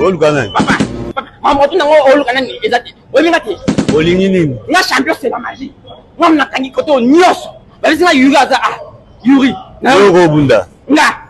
oluka nani mamoto nango oluka nani eza te oyeminga te olingi nini nga champion c'est la magie nga mnakangi koto nyonso babisi nga yuri aza a ah, yuri nayo okobunda nga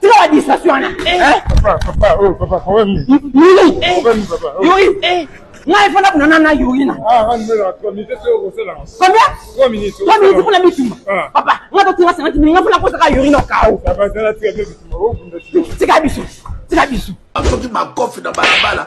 tika ba distraction wana yuri ngai fana kunana na yuri na combien 3 minutes kuna bitumba papa nga totinga 50 minutes nga fana kosaka yuri na kao tika biso tika biso soki makofi na balabala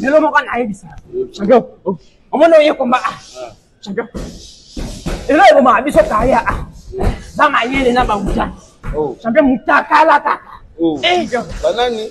lelo moko nayebisa champion omoni oye komba champion elo ebomaka biso kaya za mayele na bauta champion mutakalakaka banani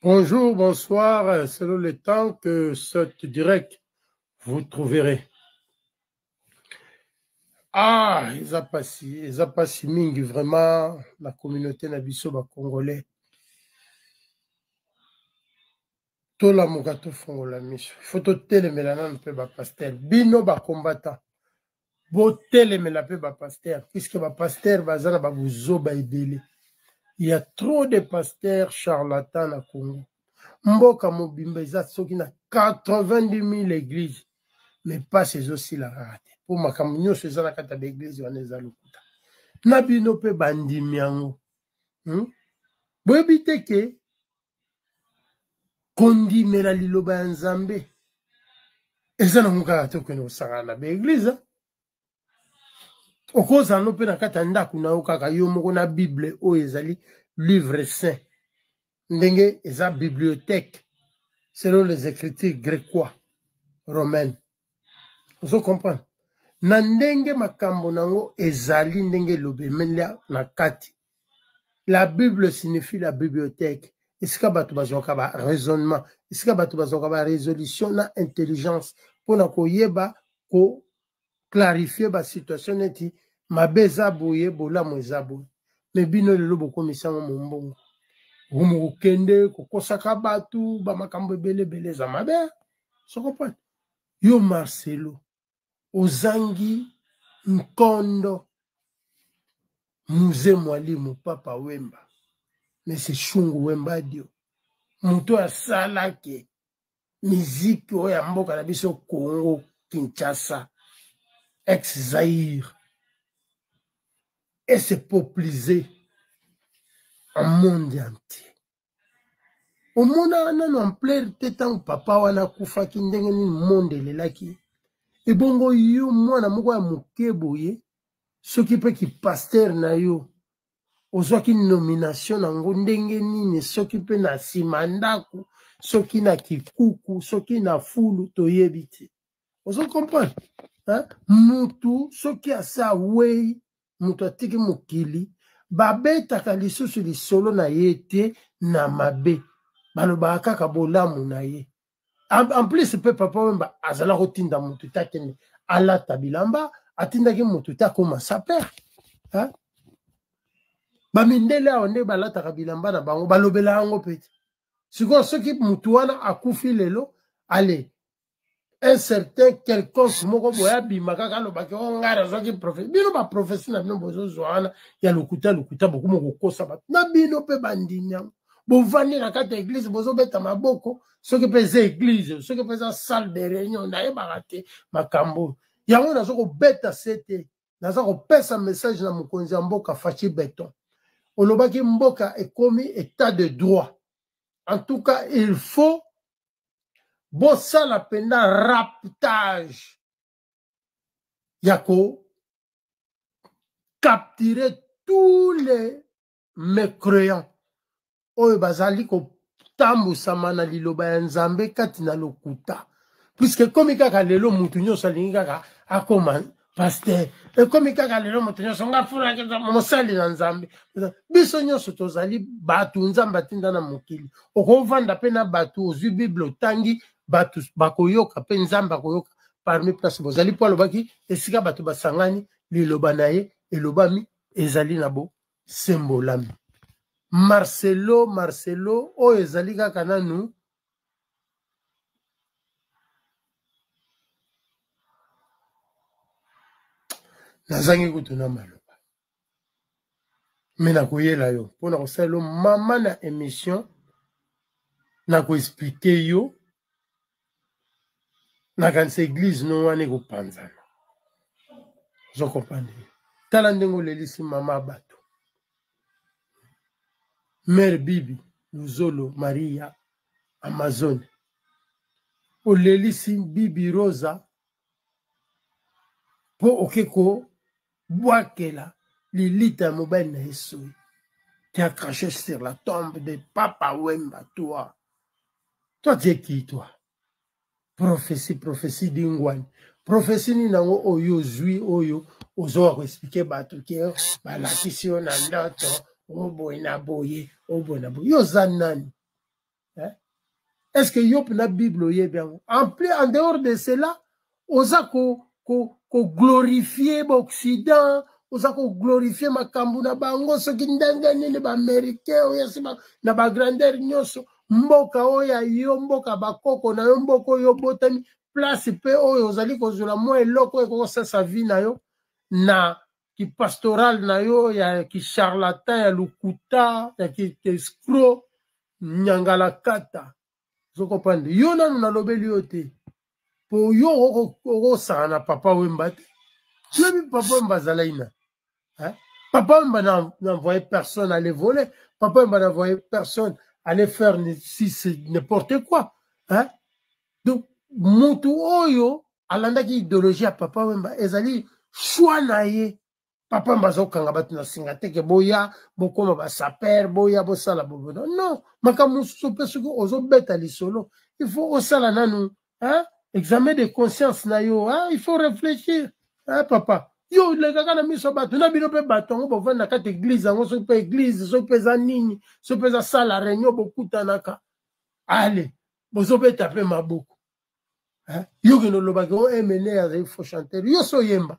Bonjour, bonsoir, euh, selon le temps que cette direct vous trouverez. Ah, ils ont passé, ils ont passé mingi vraiment la communauté na biso ba congolais. tolamuka tofongola miso ifo totelemela nanu mpe bapastere bino bakombata botelemela mpe bapaster puiske bapaster baza na babuzoba ebele ya trop de paster charlatan na congo mboka mobimba eza soki na 80000 eglise me mpasi ezosila kaka te mpo makambo nyonso eza na kati ya baeglise wana eza lokuta na bino mpe bandimi yango hmm? boyebi te ke kondimela liloba ya nzambe eza nango kaka te okende kosangana na baeglize okozala no mpe na kati ya ndako na yo kaka yo moko na bible oyo ezali livre saint ndenge eza bibliothèque selon les écritures grécois romaines ozo comprendre na ndenge makambo na yango ezali ndenge elobemela na kati la bible signifie la bibliothèque esika bato bazwaka ba raisonnement esika bato bazwaka ba résolution na intelligence mpo na koyeba ko clarifie basituation neti mabe eza boye bolamu eza boye me bino lelo bokomisi yango mombongo bomokokende kokosaka bato bamakambo ebele ebele eza mabe sokompane yo marcelo ozangi nkondo muze mwalimu papa wemba mese shungu wembadio moto asalaki miziki oyo ya mboka na biso congo kinshasa ex zaire et se popliser en monde entier omonaka nano ampleur te ntango papa wana akufaki ndenge nini monde elelaki ebongo yo mwana moko ya moke boye soki mpe kipaster na yo ozwaki nomination na yango ndenge nini soki mpe na nsima ndako soki na kikuku soki na fulu toyebi te ozo comprendre hein? mutu soki asi awei mutu atiki mokili babetaka lisusu lisolo na ye te na mabe balobaka kaka bolamu na ye en plus mpe papa wemba azala kotinda mutu te akende alata bilamba atindaki mutu te akoma saper hein? bamindele awa nde balataka bilamba na bango balobela yango mpe te sikoyo soki mutu wana akufi lelo ale un certain quelconque moko boye abima kaka alobaki o ngai nazwaki profesi bino baprofesi na bino bozozwa wana ya lokuta lokuta bokoma kokosa bato na bino mpe bandimi yango bovandi na kati ya eglize bozobeta maboko soki mpe eza eglize soki mpe eza salle de réunion nayebaka te makambo oyo yango naza kobeta se te naza kopesa message na mokonzi ya mboka faci beton olobaki mboka ekomi état de droit en tout cas il faut bosala mpenza raptage ya ko capturer tous les mécréants oyo bazali kotambwisama na liloba ya nzambe kati na lokuta puiske ekomi kaka lelo moto nyonso alingi kaka akoma paster ekomi kaka lelo moto nyonso nga fulaki mosali na nzambe biso nyonso tozali bato nzambe atinda na mokili okovanda mpe na bato ozwi bible otangi bato bakoyoka mpe nzambe akoyoka parmi place bozali mpo alobaki esika bato basangani liloba na ye elobami ezali na bosembolami marcelo marcelo oyo ezali kaka nanu nazangi kutu na maloba me nakoyela yo mpo na kosala yo mama na émission nakoexplike yo nakanisa eglize no wana ekopanzana ozokomprendre tala ndenge olelisi mama bato mère bibi luzolo maria amazone olelisi bibi rosa mpo oke kobwakela lilita ya mobali na ye soyi qui a craché sur la tombe de Papa Wemba, toi. Toi, tu es qui, toi prophesie prophesie dingwani prophesie nini yango oyo ozwi oyo ozoka koexplike bato ke balakisi yo na ndoto oboye na boye oboye na boye yo oza nani eh? est ce que yo mpena bible oyebi yango en plus en dehors de cela oza ko, ko, ko glorifie baoccident oza ko glorifie makambo na bango soki ndenge nini baaméricain oyo asi na bagrandeur nyonso mboka oyo ya yo mboka bakoko na yo mboka oyo obotami place mpe oyo ozali kozwela mwa eloko oyo ekokosasa vie na yo na kipastoral na yo ya kicharlatan ya lokuta ya kiescro nyangalakata ozokoprendre yo nanu nalobeli yo te po yo okosaka na papa wemba te oyebi papa wemba azalaki na papa wemba n'envoye personne aller voler papa wemba n'envoye personne aller faire si c'est n'importe quoi hein? donc motu oyo alandaki idéologie ya papa wemba ezali choix na ye papa mbaza kokanga bato na singa te ke boya bokoma basaper boya bosala bobono non makambo mosusu mpe soki ozobeta lisolo il faut osala nanu hein? examen de conscience na yo hein? il faut réfléchir hein, papa yo olekaka na miso ya bato na bino mpe bato yango bovandi na kati eglize yango soki mpe eglize soki mpe eza nini soki mpe eza sala réunion bokutanaka ale bozobeta mpe maboko yo kende olobaki o emene azali fo chanteur yo so oyemba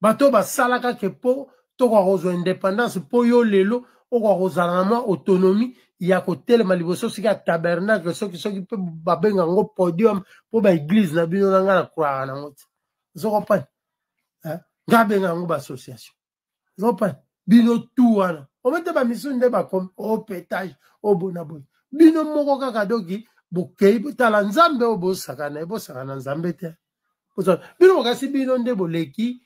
bato oyo basalaka ke mpo tokoka kozwa independance mpo yo lelo okoka kozala na mwa autonomie ya kotelema liboso soki ya tabernacle soki soki mpe babenga yango podium mpo baeglize na bino na ngai na croire nango te ozokopani ngai abenga yango baassociation ozokopani bino tu wana omete bamisusu nde bakomi opetage oh, obona oh, boye bino moko kaka doki bokei botala nzambe oyo bosakana ye bosakana nzambe te bino bokasi bino nde boleki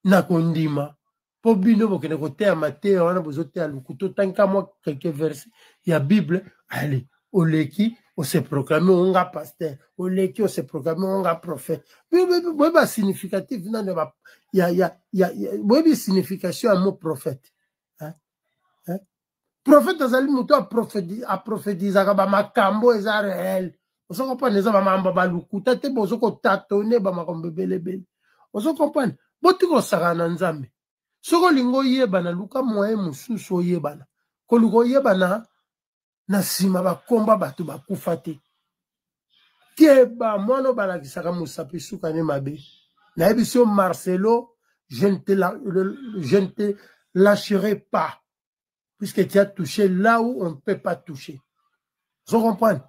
na kondima mpo bino bokende koteya mateya wana bozoteya lokuto tanka mwa quelque verse ya bible ale oleki ose proclame onga pasteur oleki ose proclame onga prophète boyebi ba significatif nano boyebi signification ya mot prophète prophète azali moto aprofetizaka bamakambo eza réel ozo comprendre eza bamamba balukuta te bozo kotatone bamakambo ebelebele ozo comprendre boti kosakana na nzambe soki olingi oyebana luka moyen mosusu oyebana koluka oyebana na nsima bakomba bato bakufa te keba mwana obalakisaka mosapi suka ne mabe nayebisi yo marcelo je ne te, la, je ne te lâcherai pas puisque tu as touché là où on ne peut pas toucher ozo comprendre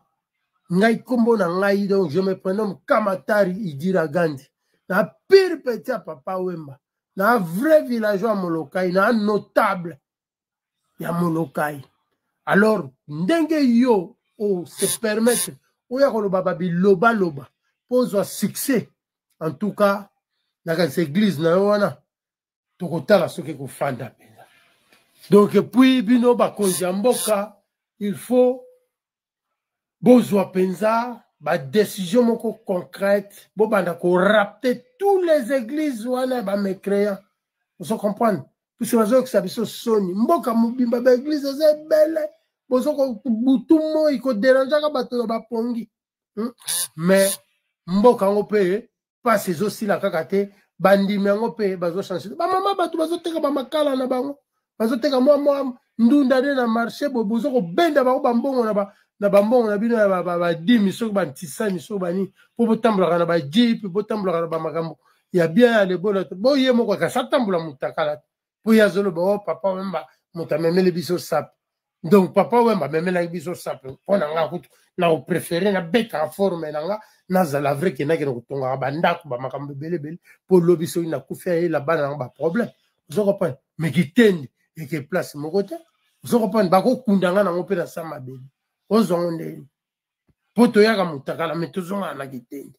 ngai nkombo na ngai donc je me prénomme kamatari idira gandi na pire petit ya papa wemba na vrai villageois ya molokai na notable ya molokai alors ndenge yo o se permettre oya koloba babilobaloba mpo ozwa succès en tout cas na kasi église na yo wana tokotala soki ekofanda mpenza donc epuis bino bakonzi ya mboka il faut bozwa mpenza badesizio moko concrète bobanda korapte tous les églises wana ya bamecréant ozo comprendre puisque bazoyokisa biso soni mboka mobimba baeglize eza ebele bozobutu moi koderangeaka bato na bapongi hmm? mais mboka yango mpe mpasi ezosila kaka te bandimi yango mpe bazochange bamama bato bazoteka bamakala na bango bazoteka mwa mwa ndunda nde na marché boye boza kobenda bango bambongo na ba na bambongo na bino ya badimi soki bantisani soki banini mpo botambolaka na bajipe botambolaka na bamakambo ya bien ya lebola boye moko kasi atambola motakala te mpo ye azoloba o oh, papa wemba moto amemeli biso sape donc papa wemba amemelaki biso sape mpo na ngai kutu na koprefere nabetaka forme na ngai nazala vrai ke nakende kotongaka bandako bamakambo ebelebele mpo lobi soki nakufi ayela bana yango baproblème ozo comprendre me kitendi eke place moko te ozo comprendre bakokunda ngai nango mpe na sa mabele ozwango ndeni mpo toyaka motakala me tozongaka na kitendi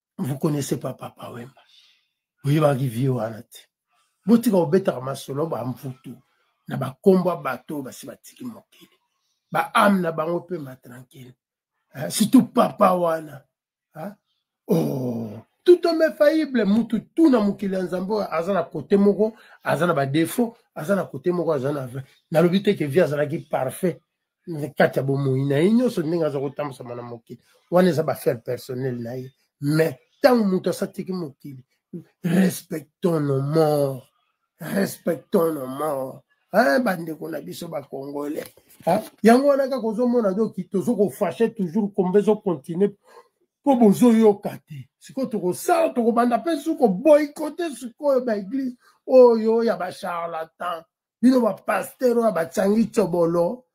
vous connaissez pas papa wemba boyebaki vie wana te botika kobetaka masolo bamvutu na bakombo ya bato oyo basi batiki mokili baame na bango mpe matranquille eh, surtout papa wana ah, oh. tout homme infaillible mutu tu na mokili ya nzambe oyo aza na kote moko aza na badefaut aza na kote moko aza na vrai nalobi te ke vie azalaki parfait na kati ya bomoi na ye nyonso ndenge aza kotambwisama na mokili wana eza bafaire personnel na ye mais ntango moto asatiki mokili respectons nos morts respectons nos morts eh, bandeko na biso bacongolais eh, yango wana kaka ozomona doki tozo kofashe toujours kombe ezokontinue mpo bozoyoka te sikoyo tokosala tokobanda mpe su koboykote sikoyo baeglise oyo ya bacharlatan bino bapastere oyo bacangi cobolo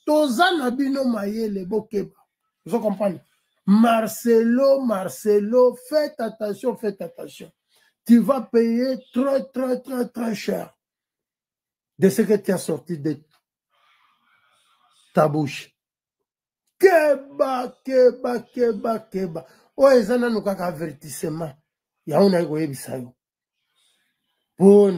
toza na bino mayele bokeba ozo comprendre marcelo marcelo faites attention faites attention tu vas payer très très très très cher de ce que tu as sorti de ta bouche keba keba keba keba oyo eza nanu kaka avertissement yango naye koyebisa yo mpo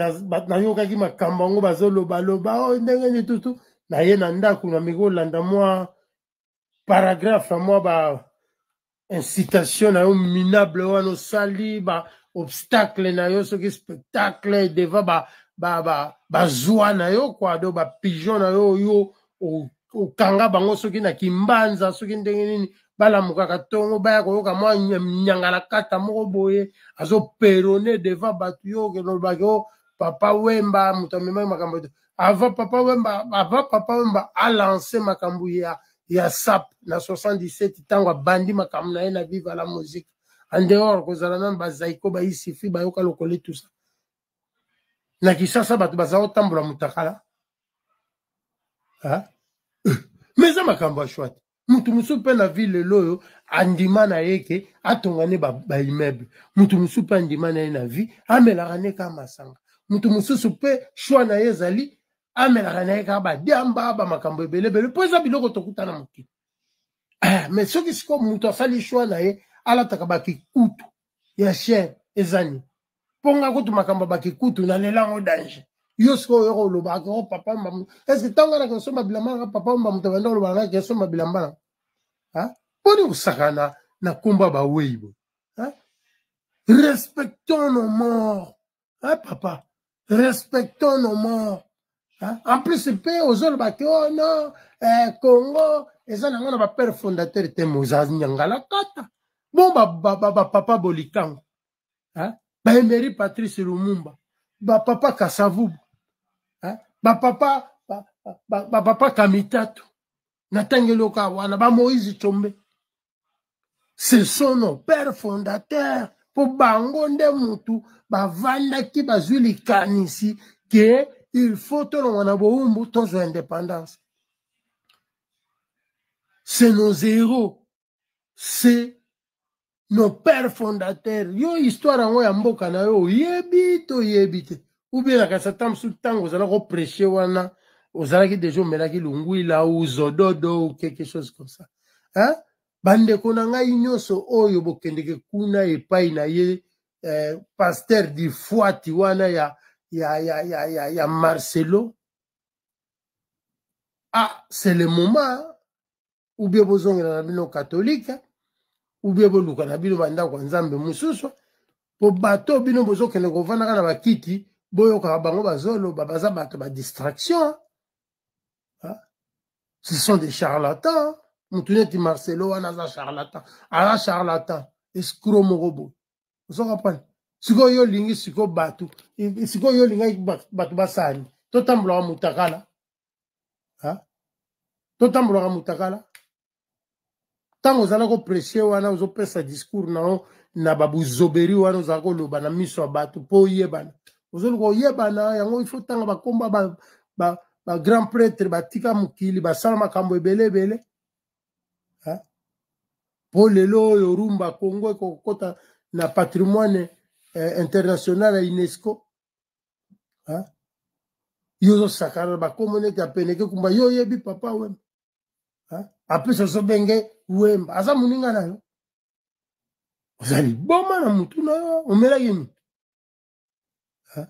nayokaki makambo yango bazolobaloba o oh, ndenge nitutu naye na ndako na mikolanda mwa paragraphe mwa ba incitation na yo minable wana osali ba obstacle na yo soki spectacle devant ba bazwa na yo kua do bapigeon na yo yo okanga bango soki na kimbanza soki ndenge nini balamukaka ntongo baya koyoka mwa nyangala kata moko boye azoperone devant bato yo olobaki o oh, papa wemba moto amemaki makambo te avant papa wemba avant papa wemba alance makambo ya ya sap na 77 ntango abandi makambo na ye na viva la musique en dehors kozala nano bazaiko baisifi bayoka lokole tusa na kisasa bato baza kotambola motakala me eza makambo ya shwate moto mosusu mpe na ville lelo oyo andima na ye ke atonga ne baimmeuble moto mosusu mpe andima na ye na vie amelaka ne kaka masanga moto mosusu mpe shwa na ye ezali amelaka na ye kaka badiamba bamakambo ebeleebele mpo eza biloko tokuta na mokili ah, me soki sikoyo moto asali shwa na ye alataka bakikutu ya chien ezani mpo nga kutu makambo baki kutu nalela yango danger yo sikoyo oyoka oloba ako oh, papa mba eske ntango anaka osomba bilamba nanga papa mba moto abanda oloba nanga kesomba bilamba na mponi kosakana na nkombo ya bawei boye respectons nos morts hein, papa respectons nos morts hein? en plus mpe ozoloba te oh non eh, congo eza nango na bapere fondateur te mozanyangalakata bon bapapa ba, ba, ba, ba, bolikango hein? baemery patrice lumumba bapapa kasavubu hein? bapapa bapapa ba, ba, ba, kamitatu na ntango eloka wana bamoise combe ce sont nos pères fondateurs mpo bango nde mutu bavandaki bazwi likanisi ke il faut tolongwa na bowumbu tozwa indépendance c'est nos héros c'est nos pères fondateurs yo histoire yango ya mboka na yo oyebi toyebi te ou bien nakanisa ata mosusu ntango ozala kopreche wana ozalaki deja omelaki lungwila ou zododo ou quelque chose comme ça hein? bandeko na ngai nyonso oyo bokendeke kuna epai na ye eh, paster difuati wana ya, ya, ya, ya, ya, ya marcelo ah c'est le moment ubie bozongela na bino katolike ubie boluka na bino bandako ya nzambe mosusu mpo bato bino bozokende kofandaka na bakiti boyokaka bango bazoloba baza bato ba distraction ce sont des charlatans motu neti marcelo wana aza charlatan aza charlatan escro moko boye ozo comprendre sikoyo yo olingi sikoyo bato sikoyo yo olingaki bato basani totambulaka motakala totambolaka mutakala ntango ozala kopresse wana ozopesa discours na yo na babuzoberi wana ozala koloba na miso ya bato mpo oyebana ozoluka oyebana yango ifo ntanga bakomba bagrand ba, ba, ba pretre batika mokili basala makambo ebele ebele mpo lelo oyo rumba congo ekokota na patrimoine eh, international ya unesco hein? yo ozosakana na bakombo neti apeneke kumba yo oyebi papa wemba hein? apesa ozobenge wemba aza moninga na yo oza liboma na motu na yo omelaki motu hein?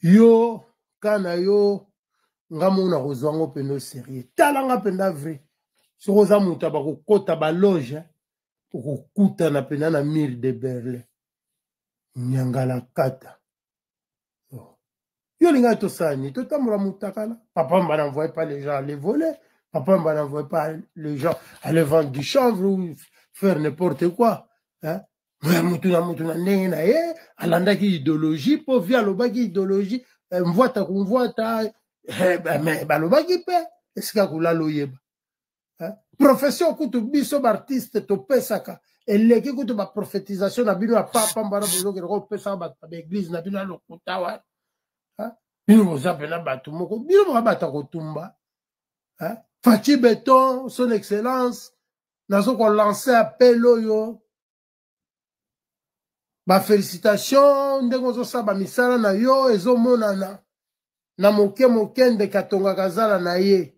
yo ka na yo nga moko nakozwa yango mpenza oserieux tala nga mpenza vrai soki oza moto ya bakokota baloge hein? okokutana mpenza na mire de berlin nyangalakata oh. yo olingaki tosala nini totambola motakala papa mba n'envoye pas les gens aller voler papa mba n'envoye pas les gens aller vendre du chanvre ou faire n'importe quoi hein? motu na motu na ndenge na ye alandaki idéologie mpo vi alobaki idéologie eh, mvwata kumvwata eh, mais balobaki mpe esika kolala oyeba hein? profession kutu biso baartiste topesaka eleki kutu baprofetisation na bino ya papa mbana bozokende kopesaka bato na baeglize na bino ya lokuta wana hein? bino boza mpena bato moko bino boka bato ya kotumba hein? faci beton son excellence nazo kolancer appel oyo bafélicitation ndenge ozosala bamisala na yo ezomonana na moke moke ndeke atongaka zala na ye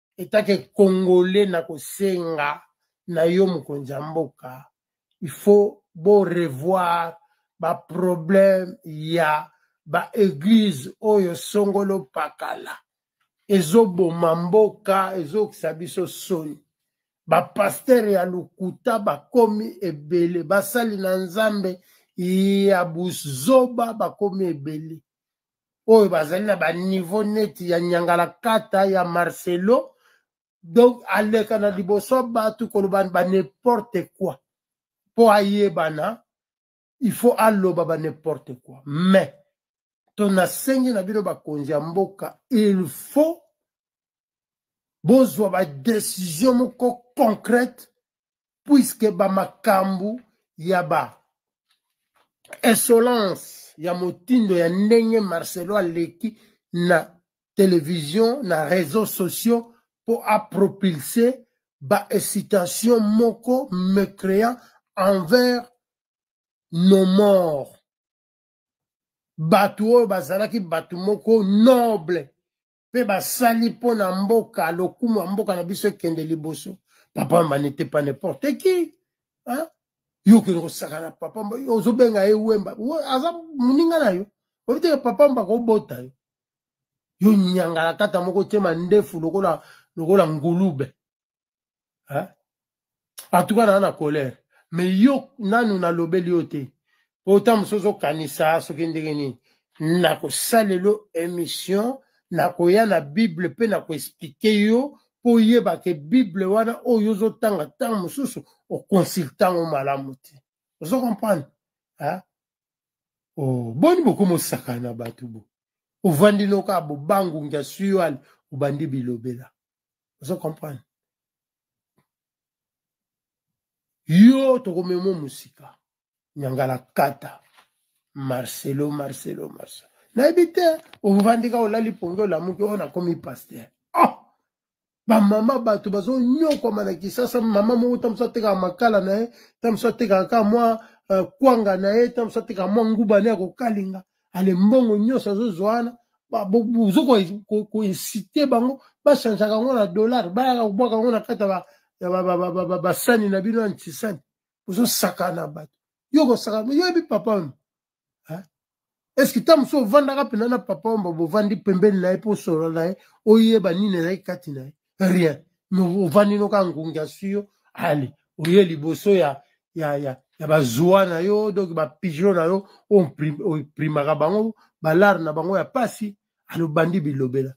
etake congolais na kosenga na yo mokonzi ya mboka il faut borevoir baproblème ya baeglize oyo songolo pakala ezoboma mboka ezokisa biso soni bapastere ya lokuta bakomi ebele basali na nzambe ya buzoba bakomi ebele oyo bazali na baniveau neti ya nyangalakata ya marcelo donc aleka na liboso bato koloba ba n'importe quoi mpo ayebana il faut aloba ba n'importe quoi mais to nasengi na bino bakonzi ya mboka il faut bozwa badesizio moko concrète puiske bamakambo ya ba insolence ya motindo ya ndenge marcelo aleki na televizio na réseau sociaux mpo apropulse baexcitation moko mécréant envers nos morts bato oyo bazalaki bato moko noble mpe basali mpo na mboka lokumu ya mboka na biso ekende liboso papa manete pa n'importe qui hein? yo okende kosakana papa ozobenga ye wemba aza moninga na yo oyebi teke papa mba kobota yo yo nyangalakata moko tyema ndefu lokola lokola ngulube hein? en tout cas naa na colère mais yo nanu nalobeli yo te mpo ta mosusu ozokanisa soki ndenge nini nakosalelo émission nakoya na bible mpe nakoexplike yo mpo oyeba ke bible wana oyo ozotanga ntango mosusu okonsulte yango malamu te ozo comprendre oh, boni bokomi osakana na bato bo ovandi noka bobangungi asuyali obandi bilobela ozo comprendre yo tokomema mosika nyangala kata marcelo marcelo marcelo nayebi te ovandika olali pongi olamuki oyo nakomi paster oh! bamama bato bazonyokwama na kisasa mama moko ta mosu atekaka makala na ye ta mosu atekaka kaka mwa uh, kwanga na ye ta mosu atekaka mwa nguba na ye akokalinga ale mbongo nyonso azozwa wana bozo koinsite bango bachangeaka yango na dollar bayaka kobwaka yango na kati ya basani na bino ya ntisani bozosakana bato yo kosakana yoyebi papa oyo eske ntango mosusu ovandaka mpenza na papa omba bovandi pembeni na ye mpo osolola na ye oyeba nini ezalaki kati na ye rien ovandi no kaka ngungi asui yo ale oye liboso ya ya ya ya bazwa na yo donc bapigeon na yo oprimaka bango balare na bango ya mpasi alobandi bilobela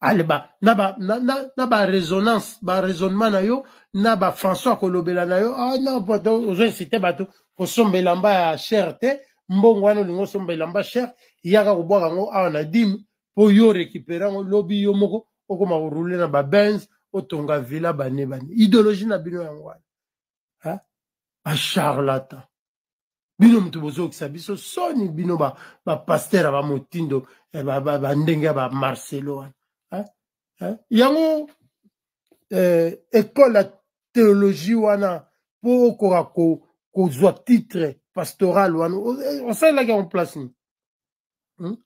ale ba na ba na, na, na ba resonance ba raisonnement na yo na ba françois kolobela na yo ah non ozo incite bato kosomba elamba ya cher te mbongo wana olingi osomba elamba cher yaka kobwaka yango awa na dime mpo yo récupérant yango lobi yo moko okoma koroule na babenz otonga villa bane bane idéologie na bino yango wana bacharlatan bino moto bozokisa biso soni bino bapaster ba ya bamotindo eh, bandenge ya bamarcelo wana eh, eh. yango eh, ekole ya theologie wana mpo okoka kozwa titre pastoral wana osalelaki yango place nini hmm?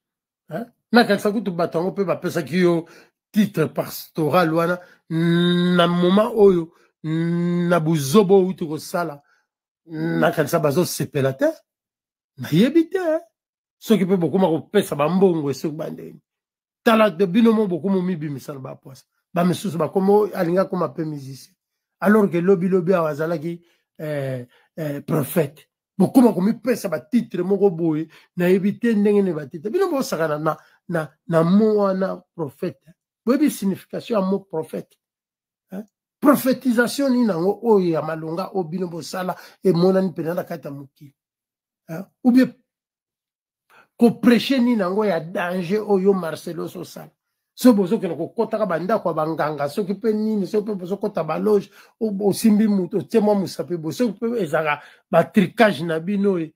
eh? nakanisa kutu bato yango mpe bapesaki yo titre pastoral wana na moma oyo na buzoba oyo uti kosala nakanisa bazosepela te nayebi te soki mpe bokoma kopesa bambongo esoki bandeni tala de bino mo bokomi omibimisa na bapwasa bamisusu bakomi alingi akoma mpe musicien alors ke lobilobi awa azalaki eh, eh, prophète bokoma komipesa batitre moko boye nayebi te ndenge nini batitre bino bosakana na, na, na mo wana prophète boyebi signification ya mo prophète eh? prophétisation nini yango oyo ya malonga oyo bino bosala emonani mpenza na kati ya mokili eh? ou bien kopreche nini yango ya danger oyo marcelo sosala soki bozokende kokotaka bandako ya banganga soki mpe nini soki mpe bozokota baloge osimbi moto otie mwa mosapi bo soki mpe ezalaka batricage na bino oyo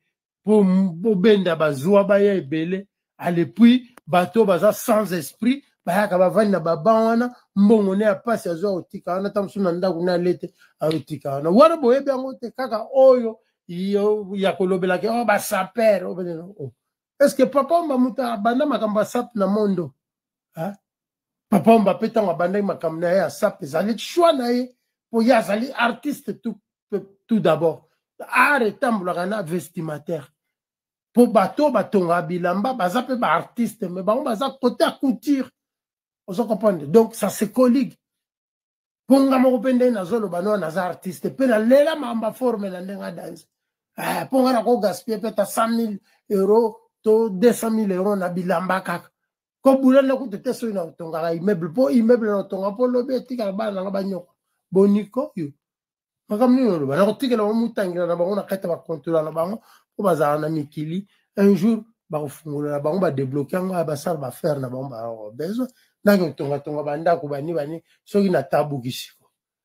mpo bobenda bazwa baya ebele alepuis bato baza sans esprit bayaka bavandi na baban wana mbongo ne ya mpasi azwa kotika wana ta mosusu na ndako ne alete akotika wana wana boyebi yango te kaka oyo yo ya kolobela ke oh, basaper oh, oh. est ce que papa omba moto abanda makambo ya sap na mondo hein? papa omba mpe ntango abandaki makambo na ye ya sap ezali choix na ye mpo ye azali artiste tout, tout d'abord art etambolaka na vestimataire mpo bato oyo batongaka bilamba baza mpe baartiste me bango baza kote ya couture ozo comprendre donc ça se colligue mpo nga moko mpe ndenge nazoloba no naza artiste mpe nalela mamba forme na ndenge adanse eh, mpo nga nako gaspille mpe ta 100 000 euro to 200 000 euro na bilamba kaka kobula nde kutu te soki na otongaka immeuble mpo immeuble na otonga mpo lobi etikala bana nanga banyoko boniko yo makambo nini oloba na kotikela bango motangela na bango na kati ya bakontola na bango mpo bazala na mikili un jour bakofungola na bango badebloke yango ya basala bafere na bango babesoin ndenge otongatonga bandako bani bani soki na tabukisi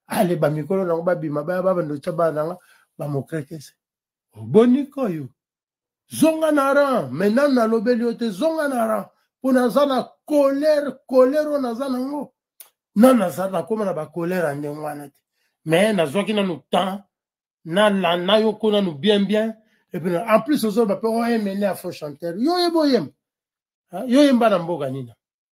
ale bamikolo nango babima baya babanda otya bana nanga bamokretese oboniko yo zonga na ran mais nanu nalobeli yo te zonga na ran mpo naza na colere colere oyo naza nango nanu naza nakóma na bacolere ya ndenge wana te mais nazwaki nanu temps nalanda yo ko nanu bien bien epuis en plus ozoloba mpe oyemene ya faux chanteur yo oyeba oyemba yo oyemba na mboka nina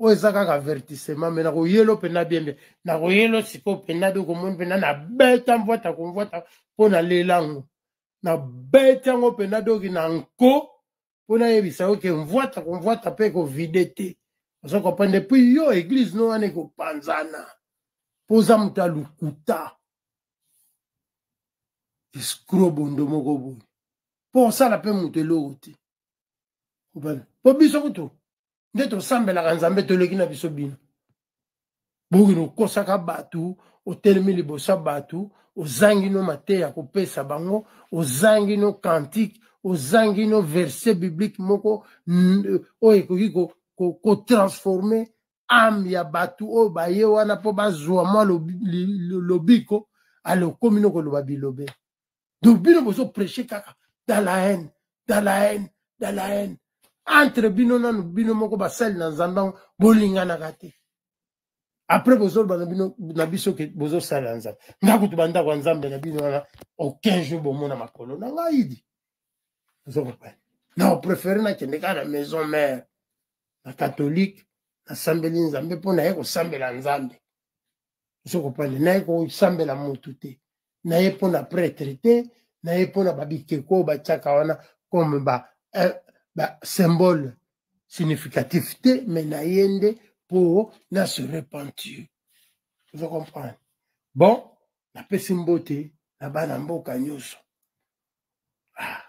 oyo eza kaka avertissement me nakoyelo mpenza bien bien nakoyelo sikoyo mpenza de komoni mpenza nabeta mvwata komvwata mpo nalela yango nabeti yango mpenza doki na nko mpo nayebisa yo ke mvwata komvwata mpe ekovide te oza kopanda epui yo eglize no wana ekopanzana mpo oza moto ya lokuta escro bondo moko boye mpo osala mpe moto eloko te mpo biso kutu nde tosambelaka nzambe toleki na biso bino bokende okosaka bato otelemi liboso ya bato ozangi no mateya kopesa bango ozangi no cantique ozangi no verset biblique moko oyo ekoki kotransforme ko, ko ame ya bato oyo baye wana mpo bazwa mwa lobiko alokomi no koloba bilobe donc bino bozo prêche kaka dans la haine dans la haine dans la haine entre bino nanu bino moko basali na nzambe yango bolinganaka te après bozoloba na bino na biso ke bozosala ya nzambe nga kutu bandako ya nzambe na bino wana aucun jour bomona makolo na ngai idi ozokompane na opréféré nakende kaka na maison mare na catholique nasambeli nzambe mpo naye kosambela nzambe sokopale naye kosambela mutu te naye mpo na pretre te naye mpo na babikeko oyo batiaka wana comme ba, eh, ba symbole significatif te me naye nde mpo na se repentir ozo comprendre bon napesi mbote na bana mboka nyonso ah,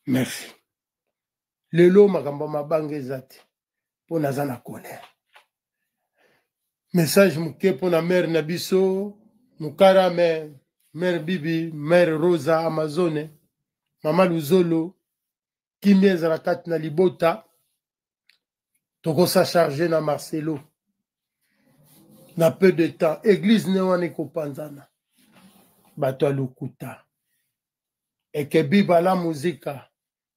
merci lelo makambo ya mabanga eza te mpo naza na colère message moke mpo na mare na biso mokara mare mare bibi mare rosa amazone mama luzolo kimia ezala kati na libota tokosa charge na marcelo na peu de temps eglize ne wana ekopanzana bato ya lokuta ekebi bala muzika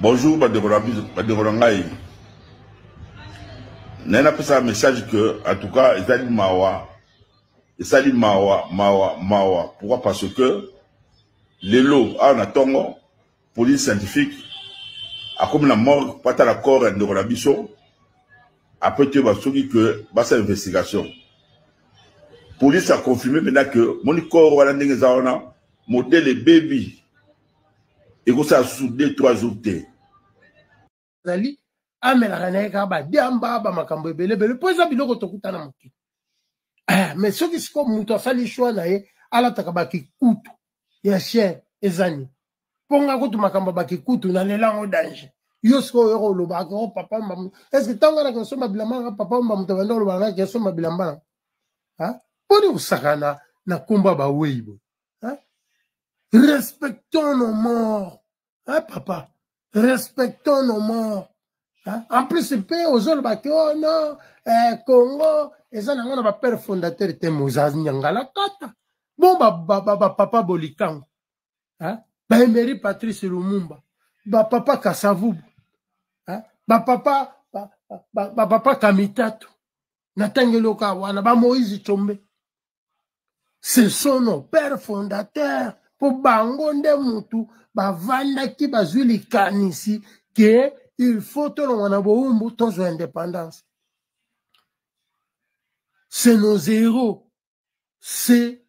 Bonjour bandeko na biso bandeko na ngai naye napesaka message que en tout cas ezali mawa esali mawa mawa mawa pourquoi parce que lelo awa na ntongo police scientifique akomi na morgue mpo atala corps ya ndeko na biso apres te basoki ke basala investigation police aconfirme mpena ke moni corps wana ndenge eza wana modele ebebi ekosala susu deux trois jours te azali amelaka na ye kaka badiamba bamakambo ebele ebele mpo eza biloko tokuta na mokili eh, mais soki sikoyo moto asali shwa na ye alataka bakikutu ya chien ezani mpo nga kutu makambo bakikutu nalela yango danger yo sikoyo oyoko oloba akoko oh, papa mbamu estce ntango anaka osomba bilamba nanga papa mbamu tabanda olobaka naki osomba bilamba nanga mpo ni kosakana na nkombo ya bawei boye hein? respectons nos morts hein, papa respectons nos morts hein? en plus mpe ozoloba ke oh non eh, congo eza nango na bapere fondateur te mozanyangalakata bon bapapa ba, ba, ba, bolikango hein? baemery patrice lumumba bapapa kasavubu hein? bapapa bapapa ba, ba, ba, kamitatu na ntango eloka wana bamoïse combe ce sont nos pères fondateurs mpo bango nde mutu bavandaki bazwi likanisi ke il faut tolongwa na bowumbu tozwa indépendance c'est nos héros c'est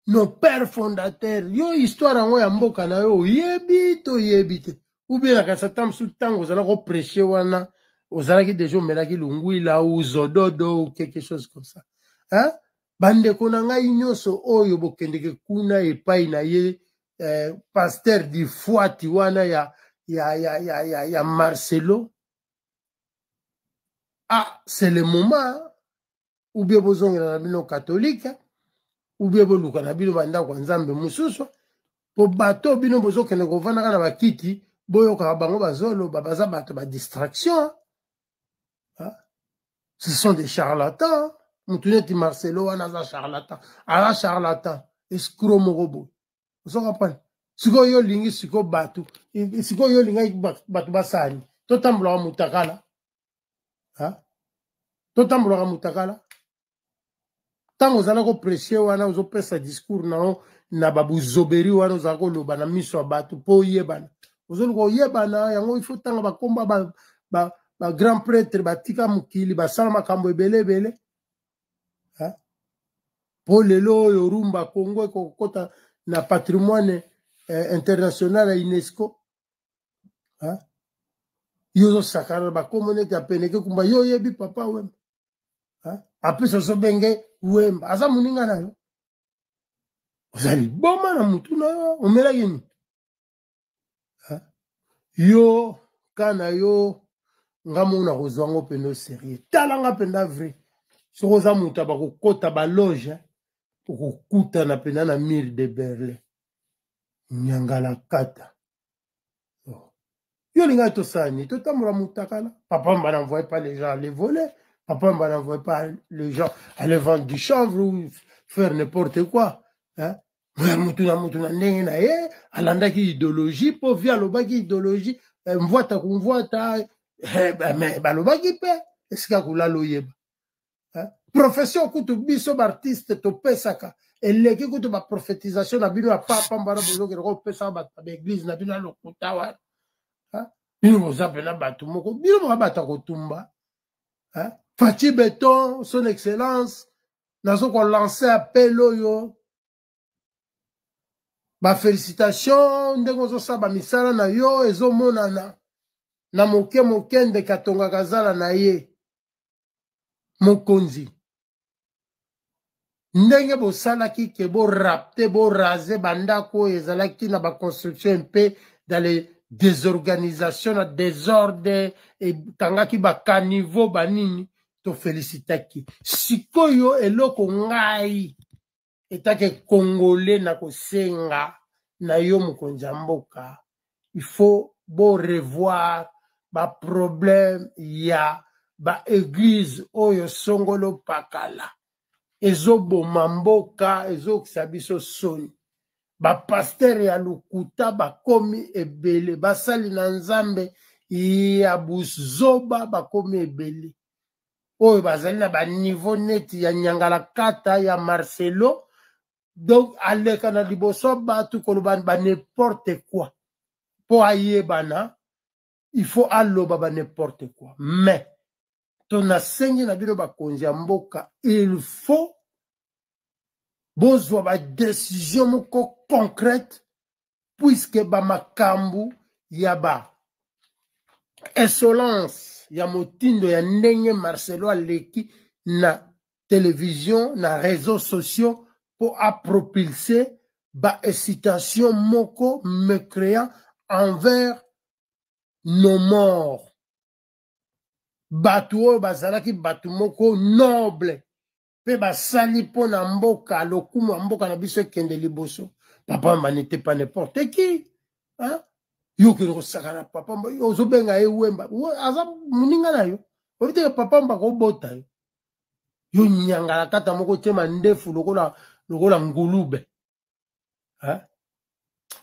nos pères fondateurs yo histoire yango ya mboka na yo oyebi toyebi te ubie nakanisa ta mosusu ntango ozalaki kopreche wana ozalaki deja omelaki lungwila ou zododo ou quelque chose comme ça hein? bandeko na ngai nyonso oyo bokendeke kuna epai na ye eh, paster difuati wana ya, ya, ya, ya, ya, ya marcelo ah c'est le moment ou bien bozongela na bino katolike ou bien boluka na bino bandako ya nzambe mosusu mpo bato bino bozokende kofandaka na bakiti boyokaka bango bazoloba baza bato ba distraction ce sont des charlatans motu neti marcelo wana aza charlatan aza charlatan escro moko boye ozo comprendre sikoyo yo olingi sikoyo bato sikoyo yo olingaki bato basani totambulaka motakala totambolaka mutakala ntango ozala kopresie wana ozopesa discours na yo na babuzoberi wana ozala koloba na miso ya bato mpo oyebana ozoluka oyebana yango ifo ntanga bakomba bagrand ba, ba, ba pretre batika mokili basala makambo ebele ebele mpo lelo oyo rumba congo ekokota na patrimoine eh, international ya unesco yo ozosakana na bakombo neti apeneke kumba yo oyebi papa wemba apesa ozobenge wemba aza moninga na yo oza liboma na motu na yo omelaki nini yo ka na yo nga moko nakozwa yango mpenza oserieux tala nga mpenza vrai soki oza moto ya bakokota baloge okokutana mpenza na mire de berlin nyangalakata yo olingaki tosala nini totambola motakala papa mba n'envoye pas les gens aller voler papa mba n'envoye pas les gens aller vendre du chanvre ou faire n'importe quoi hein? motu na motu na ndenge na ye alandaki idéologie mpo vi alobaki idéologie eh, mvwata kumvwata eh, balobaki mpe esika kolala oyeba hein? profession kutu biso baartiste topesaka eleki kutu baprofetisation na bino ya papa mbana bozokende kopesaka bato na baeglise na bino ya lokuta wana hein? bino boza mpena bato moko bino moka bato ya kotumba hein? faci beton son excellence nazo kolancer appel oyo bafelicitation ndenge ozosala bamisala na yo ezomonana na moke moke ndeke atongaka zala na ye mokonzi ndenge bosalaki ke borapte borase bandako oyo ezalaki na baconstruction mpe dans les désorganisation na desordre ekangaki bacaniveau banini tofelisitaki sikoyo eloko ngai etake congolais na kosenga na yo mokonzi ya mboka il faut borevoir baproblème ya baeglize oyo songolo pakala ezoboma mboka ezokisa biso soni bapastere ya lokuta bakomi ebele basali na nzambe ya buzoba bakomi ebele oyo bazali na baniveau neti ya nyangalakata ya marcelo donc aleka na liboso bato koloba ba n'importe quoi mpo ayebana il faut aloba ba n'importe quoi mais to nasengi na bino bakonzi ya mboka il faut bozwa badesizio moko concrète puiske bamakambo ya ba insolence ya motindo ya ndenge marcelo aleki na televizio na réseau sociaux mpo apropulse baexcitation moko mécréant envers nos morts bato oyo bazalaki bato moko noble mpe basali mpo na mboka lokumu ya mboka na biso ekende liboso papa manite pa n'importe qui hein? yo okende kosakana papa mba ozobenga ye wemba aza moninga na yo oyebi teke papa mba kobota yo yo nyangalakata moko tyema ndefu lokola lokola ngulube hein?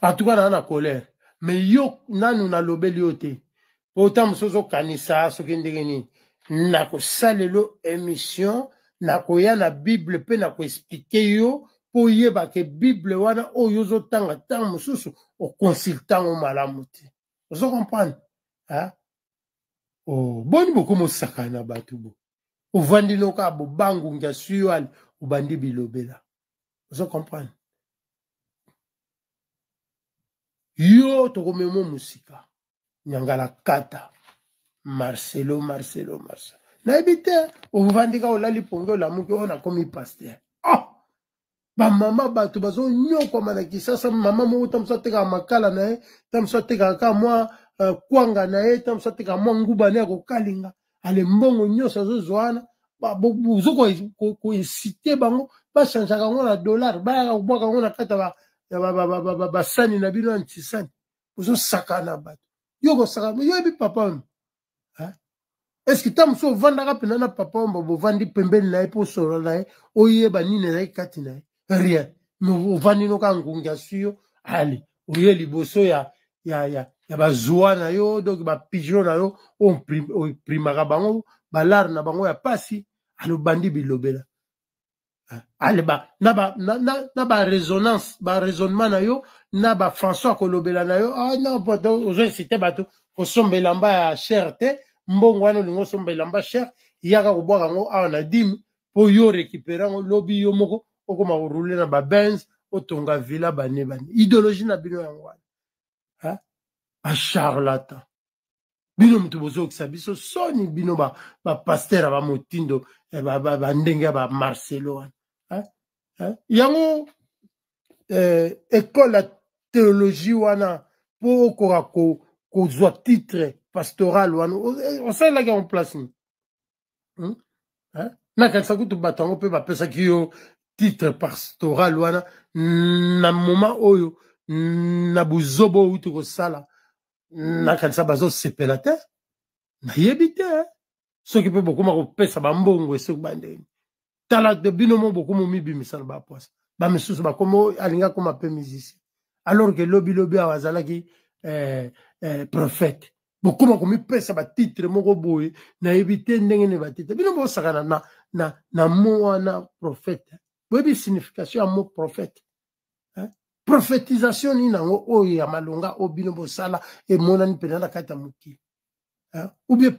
en tout cas naa na colère mais yo nanu nalobeli yo te mpo ntango mosusu ozokanisa soki ndenge nini nakosalelo émission nakoya na bible mpe nakoexplike yo mpo oyeba ke bible wana oyo ozotanga ntango mosusu okonsultango malamu te ozo comprendre oh, boni bokomosakana na bato bo ovandi noka bobangungi ya suyale obandi bilobela ozo comprendre yo tokomema mosika nyangala kata marcelo marcelo marcelo nayebi te ovandika olali pongi olamuki oyo nakomi paster oh! Ah! bamama bato bazonyokwama na kisasa mama moko ta mosu atekaka makala na ye ta mosu atekaka ka mwa uh, kwanga na ye ta mosu atekaka mwa nguba ne ya kokalinga ale mbongo nyonso azozwa wana bozo koinsite bango bachangeaka yango na dollar bayaka kobwaka yango na kati ya basani na bino ya ntisani bozosakana bato yo kosaka yoyebi papa oyo eske ntango mosusu ovandaka mpena na papa omba bovandi pembeni na ye mpo osolola na ye oyeba nini ezalaki kati na ye rien ovandi no kaka ngungi aswi yo ale oye liboso ya ya ya ya bazwa na yo donc bapigeon na yo oprimaka bango balare na bango ya mpasi alobandi bilobela ale ba na ba na, na, na ba resonance ba raisonnement na yo na ba françois kolobela na yo ah non poto ozo incite bato kosomba elamba ya cher te mbongo wana olingi osomba elamba cher yaka kobwaka yango awa na dime mpo yo récupérant yango lobi yo moko okoma koroule na babenz otonga villa bane bane idéologie na bino yango wana bacharlatan bino moto bozokisa biso soni bino bapaster ba bamotindo eh, bandenge ya bamarcelo wana yango eh, ekole ya théologie wana mpo okoka kozwa titre pastoral wana osalelaki yango place nini hmm? eh? nakanisa kutu bato yango mpe bapesaki yo titre pastoral wana na moma oyo na buzoba oyo uti kosala nakanisa bazosepela te nayebi te soki mpe bokoma kopesa bambongo esoki bandeni tala de bino mo bokomo mibimisa na bapwasa bamisusu bakomo alingi akoma mpe musicien alors ke lobilobi awa azalaki eh, eh, prophète bokoma komipesa batitre moko boye nayebi te ndenge nini batitre bino bosakana na, na, na mo wana prophète boyebi signification ya mo prophète eh? prophétisation nini yango oyo ya malonga oyo bino bosala emonani mpenza na kati ya mokili eh? ou bien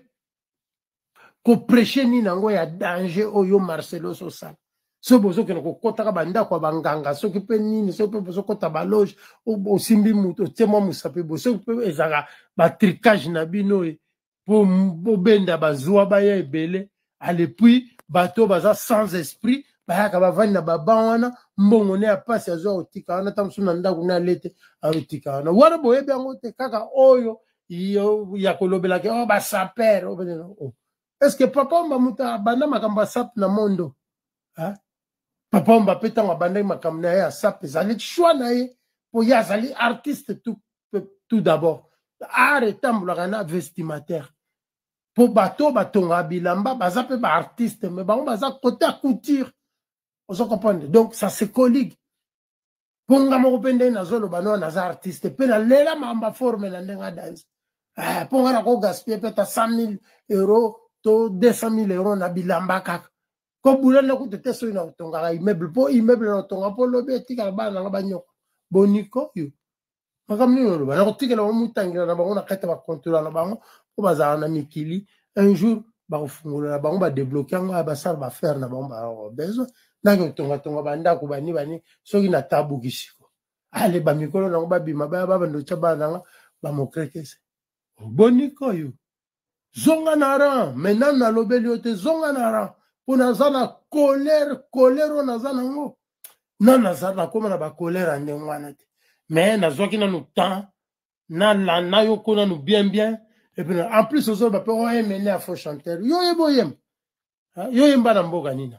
kopreche nini yango ya danger oyo marcelo sosala soki bozokende kokotaka bandako ya banganga soki mpe nini soki mpe bozokota baloge osimbi moto otie mwa mosapi bo soki mpe ezalaka batricage na bino oyo mpo bobenda bazwa baya ebele alepuis bato baza sans esprit bayaka bavandi na baba wana mbongo ne ya mpasi azwa kotika wana ntango mosusu na ndako ne alete akotika wana wana boyebi yango te kaka oyo yo ya kolobelaki o oh, basaper oh, oh. est ce que papa omba moto abanda makambo asap na mondo papa omba mpe ntango abandaki makambo na ye asap ezali choix na ye mpo ye azali artiste tout, tout d'abord art etambolaka na vestimataire mpo bato oyo batongaka bilamba baza mpe baartiste me bango baza kote ya couture ozo comprendre donc ça se colligue mpo nga moko mpe ndenge nazoloba no naza artiste mpe nalela mamba forme na ndenge adanse eh, mpo nga nako gaspille mpe ata 100 000 euro to 200 000 euro na bilamba kaka kobula nde kutu te soki na otongaka immeuble mpo immeuble na otonga mpo lobi etikala bana nanga banyoko boniko yo makambo nini oloba na kotikela bango motangela na bango na kati ya bakontola na bango mpo bazala na mikili un jour bakofungolola bango badebloke yango ya basala baaffaire na bango baaa besoin nake kotongatonga bandako bani bani soki na tabuki siko ale bamikolo nango babima baya babanda otya bana nanga bamokrekese obonikoyo zonga na ran me nanu nalobeli yo te zonga na ran mpo naza na kolere kolere oyo naza nango nanu naza nakóma na bakolere ya ndenge wana te me nazwaki nanu temps nalanda yo ko nanu bien bien epuis en plus ozoloba mpe oyemene ya faux chanteur yo oyeba oyemba yo oyemba na mboka nina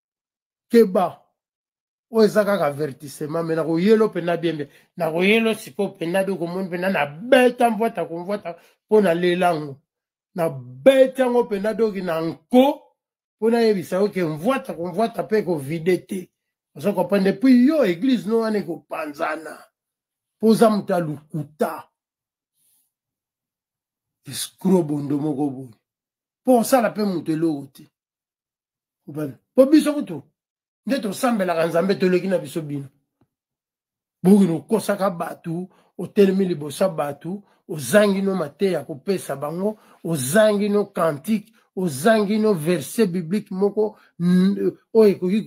keba oyo eza kaka avertissement me nakoyelo mpena bie mbe nakoyelo sikoyo mpena bie okomoni mpena nabeta mvwata komvwata mpo nalela yango nabeti yango mpena doki na nko mpo nayebisa yo ke mvwata komvwata mpe ekovide te oza kopanda epui yo eglize no wana ekopanzana mpo oza moto ya lokuta escro bondo moko boye mpo osala mpe moto eloko te mpo biso kutu nde tosambelaka nzambe toleki na biso bino bokino okosaka bato otelemi liboso ya bato ozangi no mateya ya kopesa bango ozangi no kantike ozangi no verset biblique moko oyo ekoki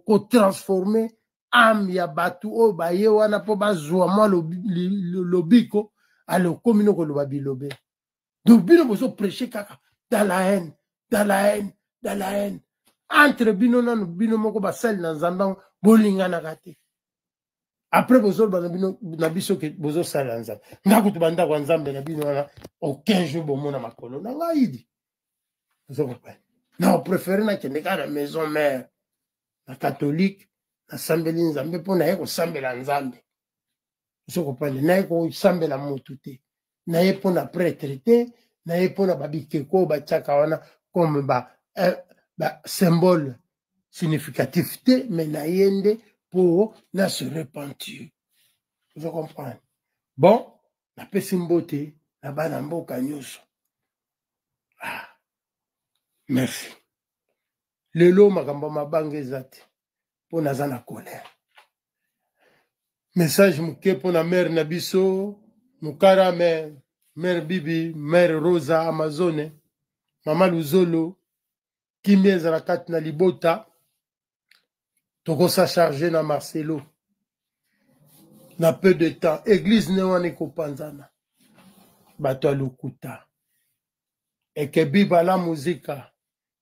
kotransforme ko, ko ame ya bato oyo baye wana mpo bazwa mwa lobiko alokomi no koloba bilobe donc bino bozo prêche kaka dans la haine dans la haine dans la haine entre bino nanu bino moko basali na nzambe yango bolinganaka te après bozoloba na bino na biso ke bozosala ya nzambe nga kutu bandako ya nzambe na bino wana aucun jour bomona makolo na ngai idi ozo comprendre na opréféré nakende kaka na maison mère na catholique nasambeli nzambe mpo naye kosambela nzambe ozo comprendre naye kosambela motu te na ye mpo na pretre te na ye mpo na babikeko oyo batiaka wana comme ba, eh, ba symbole significatif te me na ye nde mpo na se repentir ozo comprendre bon napesi mbote na bana mboka nyonso ah, merci lelo makambo ya mabanga eza te mpo naza na colère message moke mpo na mare na biso mokara mare mare bibi mare rosa amazone mama luzolo kimia ezala kati na libota tokosa charge na marcelo na peu de temps eglize ne wana ekopanzana bato ya lokuta ekebiba la muzika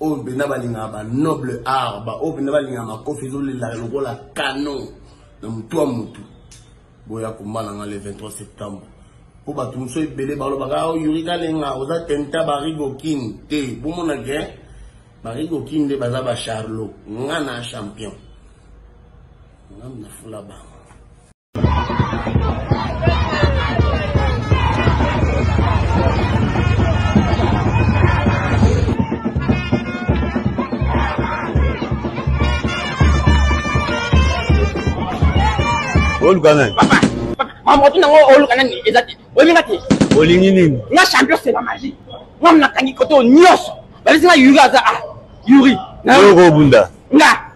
oyo mpenza balingaka ba noble art baoyo mpenza balingaka makofi ezolelaka lokola canon na motu ya motu boya kombala nga le 23 septembre mpo bato mosusu ebele balobaka ah, yuri kalenga oza tenta barigokin te bomona ke barigokin nde baza bacharlo nga na champion nga nafula bango oluka nani mamoto nango oluka nani eza te oyeminga te olingi nini nga champion seba maji nga mnakangi koto nyonso babisi nga yuri aza a ah, yuri yokobunda nga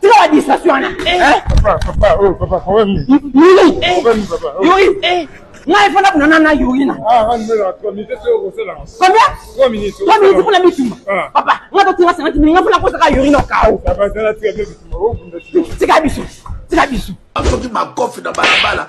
tika ba distraction wana ngai fana kunana na yurina combien trois minutes kuna bitumba papa nga totinga sangati mingi nga fana kosaka yurina okao tika biso tika biso soki makofi na balabala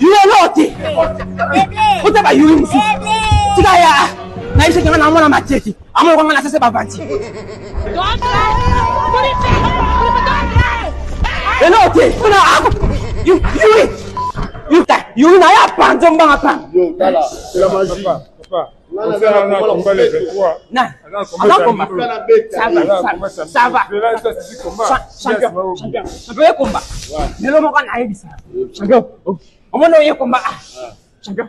lelo te ota bayuli mosusu tika ya nayebisaki nga namona mateki amonaka nga na sese bavanti lelo te mpona ako yui yui na ye apanza mbanga pana lelo moko nayebisa champion omona oye komba ah, champion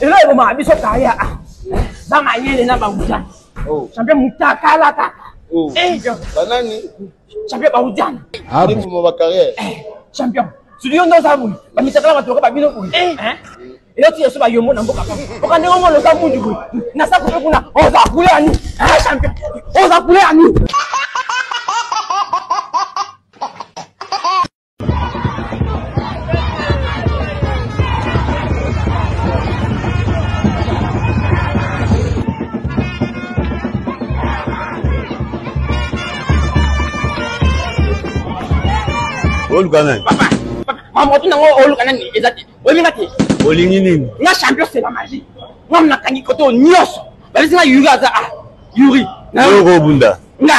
elo ebomaka biso kaya ah. bamayele na bauta oh. champion mutakalakaka oh. eh, banani champion baudiana ah ndimuma ba carrière eh, champion sudi yo nde oza boye bamitakala bato lokola babino boye eh. eh? eyo ti yesu bayombo na mboka oka ndenge omona oza mundu boye na sako mpe kuna oza kule ya nini champion oza kule ya nini oluka nani mamoto nango oluka nani eza te oyeminga te olingi nini nga champion sela magie nga mnakangi koto nyonso babisi nga yuri aza a ah, yuri yokobunda nga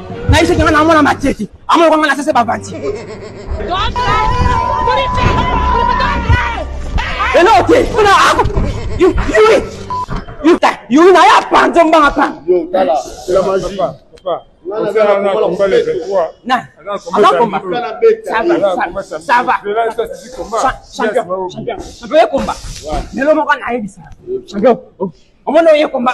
naye soki nga namona mateki amona kwanga na sese bavanti elo te kuna ako yui yuta yui naye apanzo mbanga pana champion ye komba lelo moko nayebisa champion omona oye komba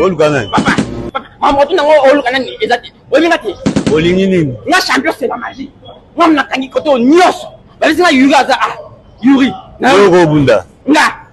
oluka nani mamoto nango oluka nani eza te oyebi te olingi nini nga champion c'est la magie nga mnakangi koto nyonso babisi nga yuri aza a ah, yuri nayo kobunda nga